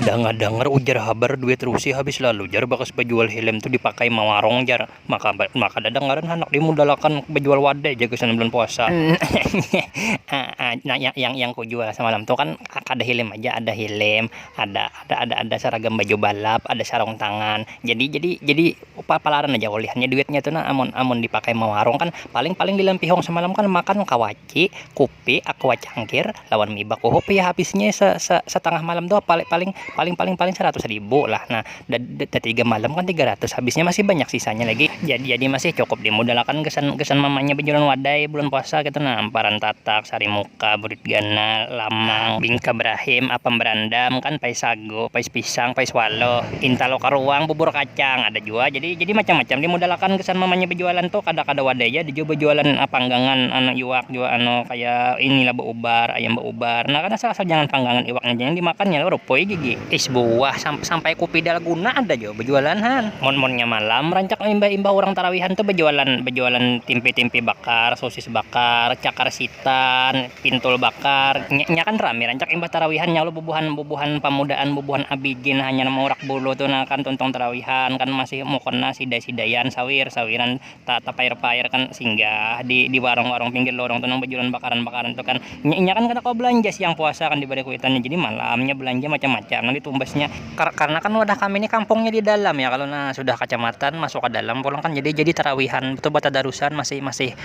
Dangar-dangar ujar habar duit Rusi habis lalu jar bakas bajual helm tu dipakai mawarung jar, maka maka kada ada ngaran handak dimudalakan bajual wadai jar gasan bulan puasa. Nah yang yang kujual samalam tu kan kada helm haja ada helm, ada ada ada saragam baju balap, ada sarung tangan, jadi jadi jadi palaran haja ulihannya duitnya tu nah amun amun dipakai mawarung kan paling paling di lampihung samalam kan makan kawaci. Ki, kupi, aqua cangkir, lawan mie baku hup ya habisnya se se setengah malam tuh paling paling paling paling paling seratus ribu lah nah da tiga malam kan tiga ratus habisnya masih banyak sisanya lagi jadi jadi masih cukup dimudalakan gasan gasan mamanya bajualan wadai bulan puasa ketu nah amparan tatak, sarimuka, burit ganal, lamang, bingka brahim, apam brandam kan, paisag. jago, pais pisang, pais walo, kintalo karuang, bubur kacang ada jua jadi jadi macam-macam dimodal akan gasan mamanya bajualan tuh kada kada wadai ja ada jua bajualan panggangan anu iwak jua anu kaya ini lah baubar ayam baubar nah kada salah jangan panggangan iwak haja yang dimakan nya rupuy gigi is buah sampai kupi dalguna ada jua bajualan han mun munnya malam rancak imbah imbah urang tarawihan tuh bajualan bajualan timpi timpi bakar sosis bakar cakar sitan. pintul bakar nya kan rami rancak imbah tarawihan ya Allah bubuhan-bubuhan pamudaan bubuhan abg nah hanyar maurak bulu tu nah kan tuntung tarawihan kan masih mukon nah sidai-sidaian sawiir sawiiran ta tapair-pair kan singgah di di warung-warung pinggir lorong tu nang bajualan bakaran-bakaran tu kan nya inya kan kada kawa balanja siang puasa kan dibari kuitan nya jadi malam nya balanja macam-macam nang ditumbas nya karna kan wadah kami ni kampung nya di dalam ya kalo nah sudah kacamatan masuk ka dalam pulang kan jadi jadi tarawihan tu batadarusan masih masih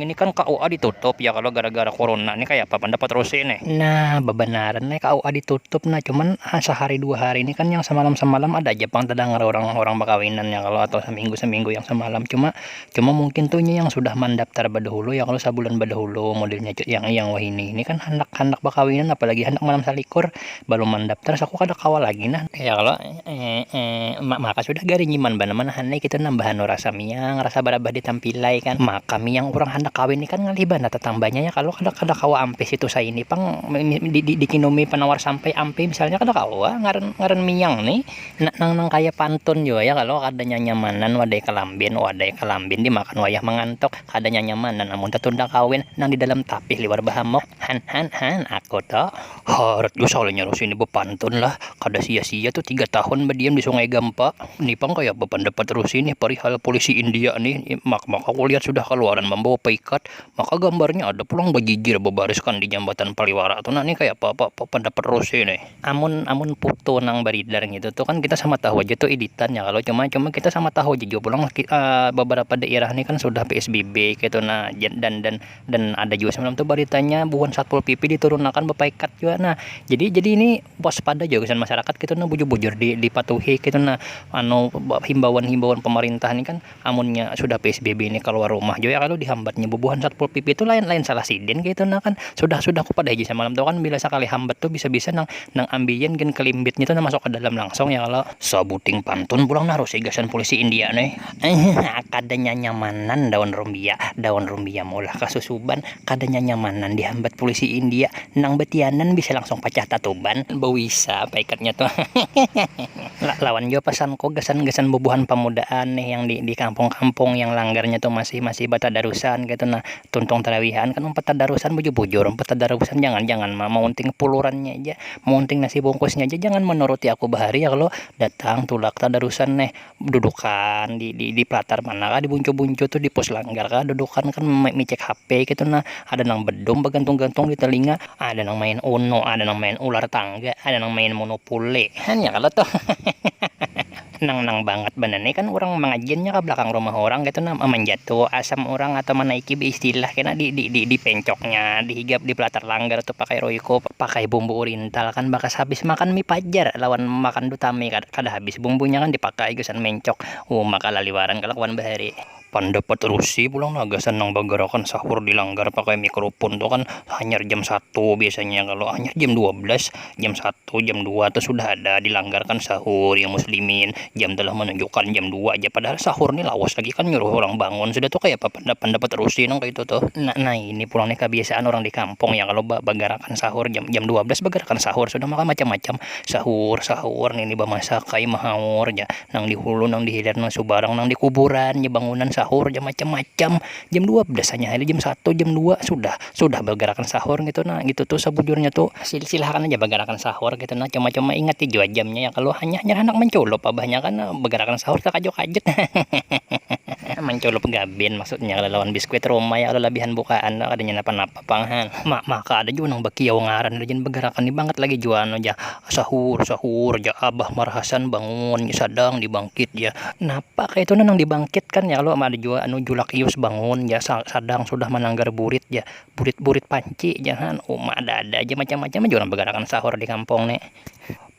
Ini kan KUA ditutup ya kalo gara-gara kuruna nih kaya apa pandapat Rusi nih? Nah babanaran nih KUA ditutup nah cuman sahari dua hari nih kan yang samalam-samalam ada aja pang tadangar urang-urang bakawinan ya kalo atau saminggu-saminggu yang samalam cuma cuma mungkin tuh inya yang sudah mandaptar badahulu ya kalo sabulan badahulu modelnya cut yang yang wahini ini kan handak-handak bakawinan apalagi handak malam salikur balum mandaptar saku kada kawa lagi nah ya kalo. Emm maka sudah garingiman banar manahan ai kita nambah anu rasa miang rasa barabah di tampilai kan maka miang urang handak kawin ni kan ngalih banar tatangbanya ya kalo kada kada kawa ampih situ saini pang di dikinumi panawar sampai ampih misalnya kada kawa ngaran ngaran miang ni na nang nang kaya pantun jua ya kalo kada nyanyamanan wadai kalambin wadai kalambin dimakan wayah mangantuk kada nyanyamanan amun tatunda kawin nang di dalam tapih liwar bahamuk han han han aku to. Harat jua salahnya orang sini bapantun lah, kada sia-sia tu tiga tahun badiam di Sungai Gampa. Ni pang kaya apa pandapat Rusi nih parihal pulisi India nih, maka kulihat sudah kaluaran mambawa paikat, maka gambarnya ada pulang bajijir babariskan di Jambatan Paliwara tu nah, ni kaya apa apa pandapat Rusi nih. Amun amun putu nang baridar ngitu tu kan kita sama tahu aja tu iditan ya kalo, cuma cuma kita sama tahu aja jua pulang babarapa dairah nih kan sudah psbb kaytu nah, dan dan. dan ada juga semalam tuh beritanya bukan satpol pp diturunkan bepaikat juga nah jadi jadi ini waspada juga kesan masyarakat kita gitu, nah bujur-bujur di, dipatuhi kita gitu, nah anu himbauan-himbauan pemerintah ini kan amunnya sudah PSBB ini keluar rumah juga ya kalau dihambatnya bubuhan satpol pp itu lain-lain salah sidin gitu nah kan sudah sudah aku pada aja semalam tuh kan bila sekali hambat tuh bisa-bisa nang nang ambian gen kelimbitnya tuh nah masuk ke dalam langsung ya kalau sabuting pantun pulang nah harus polisi India nih Ehihihi kada nyanyamanan daun rumbia, daun rumbia maulah kasusuban kada nyanyamanan dihambat pulisi india nang batianan bisa langsung pacah tatuban. Bawisa apa ikatnya tu hehehehe. Lawan jua pasanku gasan gasan bubuhan pamudaan nih yang di di kampung kampung yang langgarnya tu masih masih batadarusan kaitu nah tuntung tarawihaan kan umpat tadarusan bujur bujur umpat tadarusan jangan jangan ma maunting pulurannya ja maunting nasi bungkusnya ja jangan manuruti aku bahari ya kalo datang tulak tadarusan neh. dudukan di di palatar mana kah di buncu-buncu tu di pos langgar kah dudukan kan micek HP ketu nah ada nang bedum bagantung-gantung di telinga ada nang main uno ada nang main ular tangga ada nang main monopole hanya kalo tu nang-nang bangat banar ni kan urang mangajiannya ka belakang rumah urang ketu nah manjatu asam urang atau manaiki beistilah kena di di di pencoknya di higap di palatar langgar tu pakai royco pakai bumbu urin. Intalkan bakas habis makan mie pajar lawan makan dutami kada kada habis bumbunya kan dipakai gasan mencok uma kalaliwaran kalakuan bahari. Pandapat Rusi pulang nah gasan nang bagarakan sahur di langgar pakai mie kerupun tu kan hanyar jam satu biasanya kalo hanyar jam dua belas jam satu jam dua tu sudah ada di langgar kan sahur yang muslimin. jam tu lah manunjukan jam dua ja padahal sahur ni lawas lagi kan nyuruh urang bangun sudah tu kayapa panda-panda baterusi nang kaitu tuh. Nah nah ini pulang nih kabiasaan urang di kampung ya kalo ba-bagarakan sahur jam jam dua belas bagarakan sahur sudah maka macam-macam sahur sahur nini bamasak ai mahaur ja nang di hulu nang di hilir nang subarang nang di kuburan ja bangunan sahur ja macam-macam jam dua belas hanya hari jam satu jam dua sudah. sudah bagarakan sahur ngitu nah ngitu tu sabujurnya tu silakan haja bagarakan sahur ngitu nah cuma-cuma ingati jua jamnya yang kalu hanyar hanyar handak manculup abahnya kan bagarakan sahur takajut-kajut hahaha manculup gabin maksudnya kalu lawan biskuit rumah ya kalu labihan bukaan tu kadanya napa-napa pang ha ma maka ada jua nang bakiau ngaran rajin bagarakan ni bangat lagi jua anu ja Sahur sahur jar abah marahasan bangun sadang dibangkit jar, napa kaitu nang dibangkitkan jar lo ada jua anu julak iyus bangun jar sadang sudah mananggar burit jar, burit burit panci jar ha uma ada ada ja macam macam jua bagarakan sahur dikampung ni.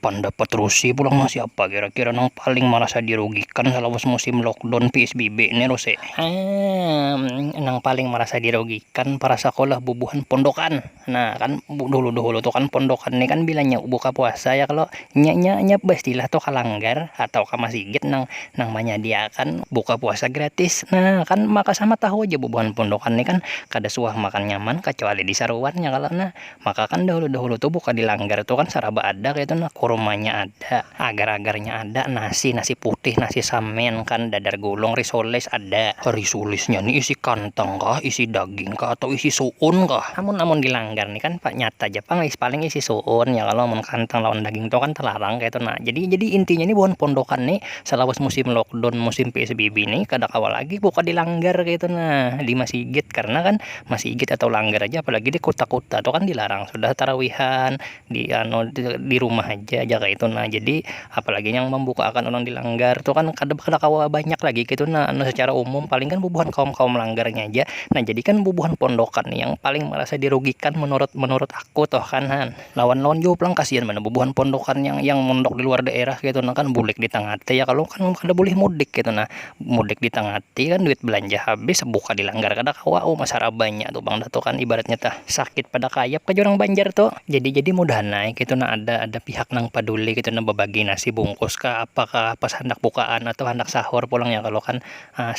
Pandapat rusi pulang lo siapa kira kira nang paling marasa dirugikan salawas musim lockdown psbb ni rusi? Haa nang paling marasa dirugikan para sakolah bubuhan pondokan. Nah kan dulu dulu tu kan pondokan ni kan bila nya buka puasa ya kalo nya nya nya baistilah tu ka langgar atau ka masigit nang nang manyadiakan buka puasa gratis nah kan maka sama tahu ja bubuhan pondokan ni kan kada suah makan nyaman kacuali di saruan ya kalo nah maka kan dahulu dahulu tu buka di langgar tu kan saraba ada kaitu nah kurmanya ada. Ada, agar-agarnya ada, nasi, nasi putih, nasi samin, kan, dadar gulung, risoles ada. Risolesnya ni isi kantang kah, isi daging kah, atau isi suun kah? Amun amun di langgar ni kan nyata ja pang is paling isi suun ya kalo mun kantang lawan daging tu kan telarang kaitu nah jadi jadi intinya ni buhan pondokan ni selawas musim lockdown musim psbb ni kada kawa lagi buka di langgar kaitu nah di masigit karna kan masigit atau langgar aja apalagi di kuta kuta tu kan dilarang sudah tarawihan. di anu di rumah haja jar kaitu nah jadi apalagi nang mambukakan urang di langgar tu kan kada kada kawa banyak lagi kaitu nah anu sacara umum paling kan bubuhan kaum-kaum langgarnya haja nah jadi kan bubuhan pondokan ni yang paling marasa dirugikan menurut menurut aku tu kan ha lawan-lawan jua pulang kasian banar bubuhan pondokan yang yang mondok di luar daerah kaitu nah kan bulik di tangah te ya kalo kan kada bulih mudik kaitu nah. mudik ditangah hati kan duit belanja habis buka dilanggar kada kawa uma sarabanya tu pang dah tu kan ibaratnya tah sakit pada kayap ka jar urang banjar tu jadi jadi mudahan ai ketu nah ada ada pihak nang paduli ketu nah babagi nasi bungkus kah apa kah pas handak bukaan atau handak sahur pulang ya kalo kan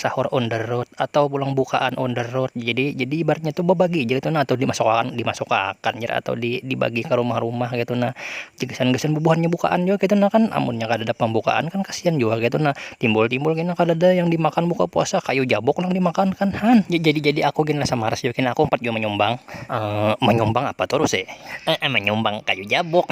sahur on the road atau pulang bukaan on the road jadi jadi ibaratnya tu babagi ja ketu nah atau dimasuk akan dimasuk akan jar atau di dibagi ka rumah rumah ketu nah gasan gasan bubuhannya bukaan jua ketu nah kan amunnya kadada pambukaan kan kasian jua ketu nah. timbul-timbul gin kadada yang dimakan buka puasa kayu jabuk nang dimakan kan han jadi-jadi aku gin rasa maras jua gin aku umpat jua manyumbang manyumbang apa tu Rus manyumbang kayu jabuk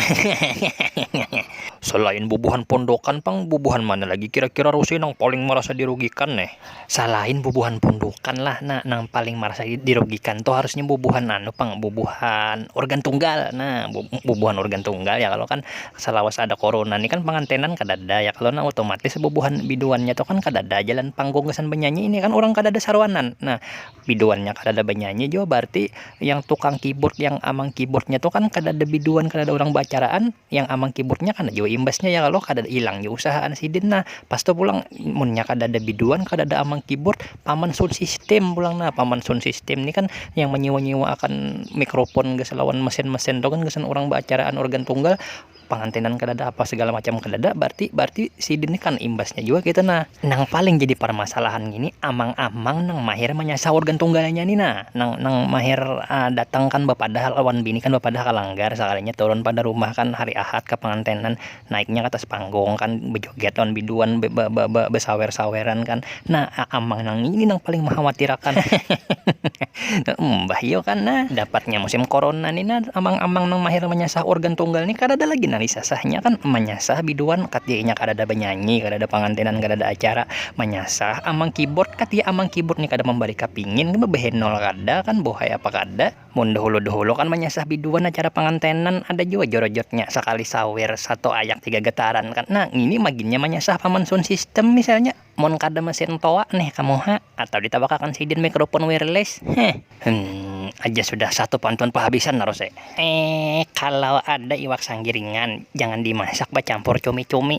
salain bubuhan pondokan pang bubuhan mana lagi kira-kira Rus nang paling marasa dirugikan ne salain bubuhan pondokan lah nah nang paling marasa dirugikan tu harusnya bubuhan anu pang bubuhan urgan tunggal nah bubuhan urgan tunggal ya kalo kan Salawas ada korona ni kan pangantenan kadada ya kalo nah otomatis bubuhan biduannya tu kan kadada jalan panggung gasan banyanyi ini kan urang kadada saruanan nah biduannya kadada banyanyi jua barti yang tukang kiburt yang amang kiburtnya tu kan kadada biduan kadada urang baacaraan yang amang kiburtnya kena jua imbasnya ya kalo kada ilang jua usahaan sidin nah pas tu pulang munnya kadada biduan kadada amang kiburt. paman sound system pulang nah paman sound system ni kan yang menyewa-nyewa akan mikrofon gas lawan mesin-mesin tu kan gasan orang baacaraan organ tunggal pangantinan kadada apa segala macam kadada berarti berarti sidin ni kan imbasnya jua kita nah nang paling jadi parmasalahan gini amang-amang nang mahir manyasah organ tunggalnya ni nah nang nang mahir uh, datang kan bapadah lawan bini kan bapadah ka langgar sakalinya turun pada rumah kan hari ahad ka pangantinan naiknya katas panggung kan bejoget lawan biduan be, be, be, be, besawer-saweran kan nah amang nang ini nang paling mengkhawatirakan mbah yo kan nah dapatnya musim corona nih nah amang-amang nang mahir menyasah organ tunggal nih kada ada lagi nang disasahnya kan menyasah biduan katinya kada ada benyanyi kada ada pangantinan kada ada acara menyasah amang keyboard katia amang keyboard nih kada membari kapingin behenol kada kan bohai apa kada mun dahulu-dahulu kan manyasah biduan acara pangantenan ada jua jorojotnya sakali sawer satu ayak tiga getaran kan nah ngini maginnya manyasah paman sound system misalnya mun kada mesin toa neh ka muha atau ditabakakan sidin mikrofon wireless heh hum aja sudah satu pantun pahabisan tarus ee kalau ada iwak sanggiringan jangan dimasak bacampur cumi-cumi.